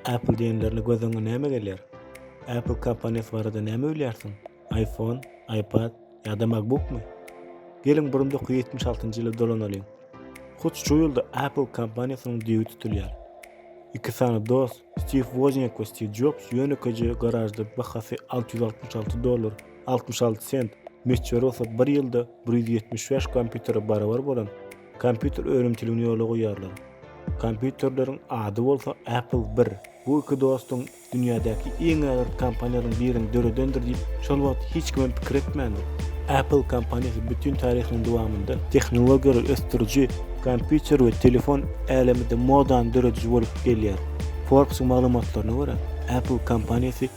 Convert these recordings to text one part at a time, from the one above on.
Apple diýenlerinde göz öňüňe näme gelýär? Apple kompaniýasy barada näme bilýärsiň? iPhone, iPad ýa-da MacBookmy? Geliň bir müňk ýetmiş altynjy ýyla dolanalyň. Hut şu ýylda Apple kompaniýasynyň düýbi tutulýar. Iki sany dost, Stiv Wozniak we Stiv Jobs ýönekeje garažda bahasy alty ýüz altmyş alty dollar, altmyş alty sent, möçberi bolsa bir ýylda bir ýüz ýetmiş bäş kompýutere barabar bolan Kompýuter önümçiligini ýola goýýarlar. Kompýuterleriň ady bolsa Apple bir. Bu iki dostuň dünýädäki iň ägirt kompaniýalaryň birini döredendir diýip, şol wagt hiç kimem pikir etmändi. Apple kompaniýasy bütin taryhynyň dowamynda tehnologiýalary ösdüriji, kompýuter we telefon äleminde modany dörediji bolup gelýär. Forbes-yň maglumatlaryna görä, Apple kompaniýasy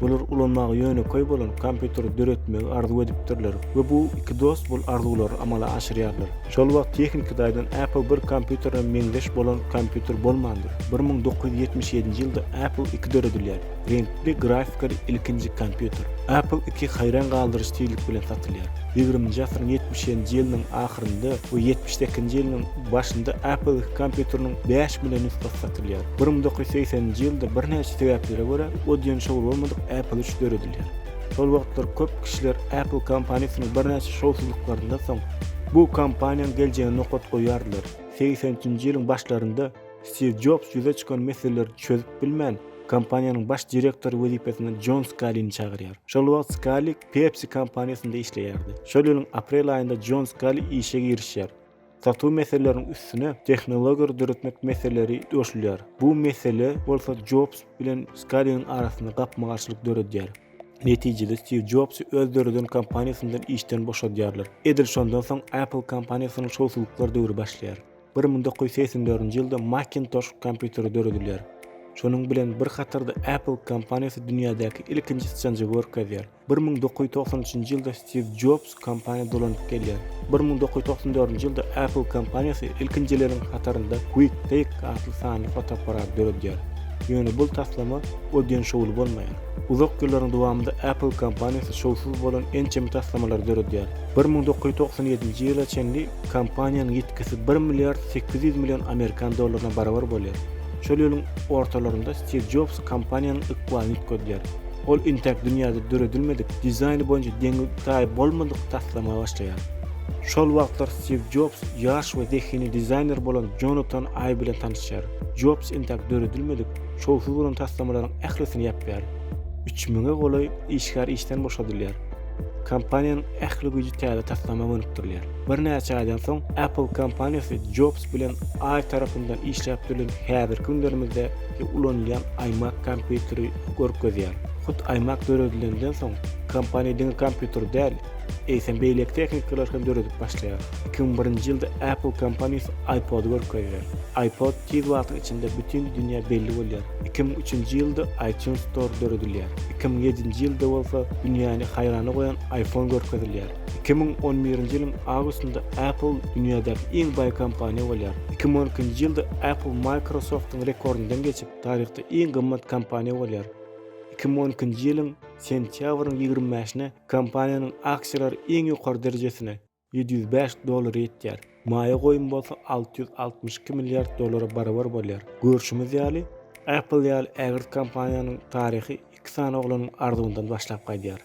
Olar ulanmagy ýönekeý bolan kompýuteri döretmegi arzuw edipdirler we bu iki dost bol arzuwlary amala aşyrýarlar. Şol wagt tehniki taýdan Apple bir kompýuterine meňzeş bolan kompýuter bolmandyr. Bir müň dokuz ýüz ýetmiş ýedinji ýylda Apple iki döredilýär, reňkli grafikali ilkinji kompýuter. Apple iki haýran galdyryjy tizlik bilen satylýar. Ýigriminji asyryň ýetmiş ýedinji ýylynyň ahyrynda we ýetmiş sekinji ýylynyň başynda Apple iki kompýuteriniň bäş million nusgasy satylýar. Bir müň dokuz ýüz segsen nji ýylda birnäçe sebäplere görä Odeon şowy bolmadyk Apple üç döredilýär. Şol wagtlar köp kişiler Apple kompaniýasynyň birnäçe şowsuzlyklaryndan soň bu kompaniýanyň geljegine nokat goýýardylar. Segsen üçünji ýylyň başlarynda Stiw Jobs ýüze çykan meseleleri çözüp bilmän, kompaniýanyň baş direktory wezipesine Jon Skalini çagyrýar. Şol wagt Skali Pepsi kompaniýasynda işleýärdi. Şol ýylyň aprel aýynda Jon Skali işe girişýär. Satuw meseleleriniň üstüne tehnologiýalary döretmek meseleleri goşulýar. Bu mesele bolsa Jobs bilen Skaliniň arasynda gapma-garşylyk döredýär. Netijede Stiw Jobsy öz döreden kompaniýasyndan işden boşadýarlar. Edil şondan soň Apple kompaniýasynyň şowsuzlyklar döwri başlaýar. Bir müň dokuz ýüz segsen dördünji ýylda Macintosh kompýuteri döredilýär. Şonuň bilen bir hatarda Apple kompaniýasy dünýädäki ilkinji syçanjygy görkezýär. Bir müň dokuz ýüz togsan üçünji ýylda Stiw Jobs kompaniýa dolanyp gelýär. Bir müň dokuz ýüz togsan dördünji ýylda Apple kompaniýasy ilkinjileriň hatarynda Quick Take atly sanly fotoapparat döredýär. Ýöne bul taslama o diýen şowly bolmaýar. Uzak ýyllaryň dowamynda Apple kompaniýasy şowsuz bolan ençeme taslamalary döredýär. Bir müň dokuz ýüz togsan ýedinji ýyla çenli kompaniýanyň ýitgisi bir milliard sekiz ýüz million amerikan dollaryna barabar bolýar. Şol ýylyň ortalarynda Stiw Jobs kompaniýanyň ykbalyny üýtgedýär. Ol intäk dünýäde döredilmedik, dizaýny boýunça deňi-taýy bolmadyk taslama başlaýar. Şol wagtlar Stiw Jobs ýaş we zehinli dizaýner bolan Jonatan Aý bilen tanyşýar. Jobs intäk döredilmedik, şowsuz bolan taslamalaryň ählisini ýapýar. Üç müňe golaý işgär işden boşadylýar. Kompaniýanyň ähli güýji täze taslama gönükdirilýär. Birnäçe aýdan soň, Apple kompaniýasy Jobs bilen Aý tarapyndan işläp düzülen häzirki günlerimizde Ki ulanylýan iMac kompýuteri görkezýär. Hut iMac döredilenden soň, kompaniýa diňe kompýuter däl, eýsem beýleki tehnikalar hem döredip başlaýar. Iki müň birinji ýylda Apple kompaniýasy iPod-y görkezýär. iPod tiz wagtyň içinde bütin dünýä belli bolýar. Iki müň üçünji ýylda iTunes Store döredilýär. Iki müň ýedinji ýylda bolsa dünýäni haýrana goýan iPhone görkezilýär. Iki müň on birinji ýylyň awgustynda Apple dünýädäki iň baý kompaniýa bolýar. Iki müň on ikinji ýylda Apple Microsoft-yň rekordyndan geçip, taryhda iň gymmat kompaniýa bolýar. Iki müň on ikinji ýylyň sentýabrynyň ýigrimi bäşine kompaniýanyň aksiýalary iň ýokary derejesine, ýedi ýüz bäş dollara ýetýär. Maýa goýum bolsa alty ýüz altmyş iki milliard dollara barabar bolýar. Görşümiz ýaly, Apple ýaly ägirt kompaniýanyň taryhy iki sany oglanyň arzuwyndan başlap gaýdýar.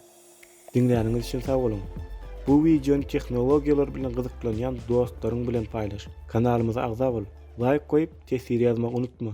Diňläniňiz üçin sag boluň! Bu wideony tehnologiýalar bilen gyzyklanýan dostlaryň bilen paýlaş! Kanalymyza agza bol! Laýk goýup, teswir ýazmagy unutma!